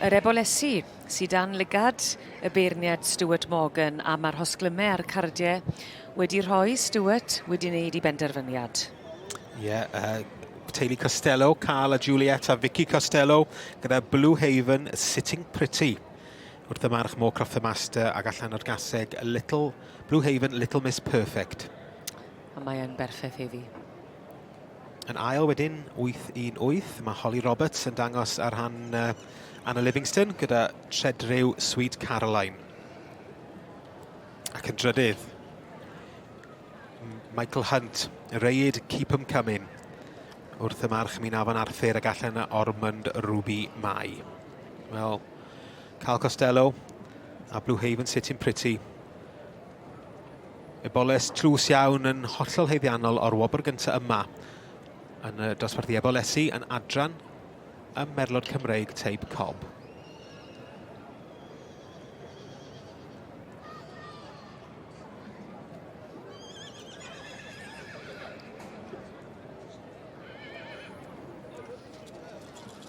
Yr ebolesi sy dan lygad y beirniad Stuart Morgan am arhosglymau a'r cardiau wedi rhoi Stuart wedi wneud ei benderfyniad. Ie, yeah, uh, teulu Costello, Carl a Juliet a Vicky Costello, gyda Blue Haven Sitting Pretty. Wrth y march Moore Croft the Master ac allan o'r gaseg Little, Blue Haven Little Miss Perfect. A mae'n berffaith heddi. Yn ail wedyn, 8-1-8. Mae Holly Roberts yn dangos ar rhan uh, Anna Livingston gyda tredryw Sweet Caroline. Ac yn drydydd, Michael Hunt, Reid Keep 'em Coming wrth y march mi'n afon Arthur ag allan y Ormond Ruby Mai. Wel, Cal Costello a Blue Haven Sitting Pretty Y boles tlws iawn yn hollol heiddiannol o'r wobr gyntaf yma yn y dosbarthu ebolesi yn adran y merlod Cymreig teib cob.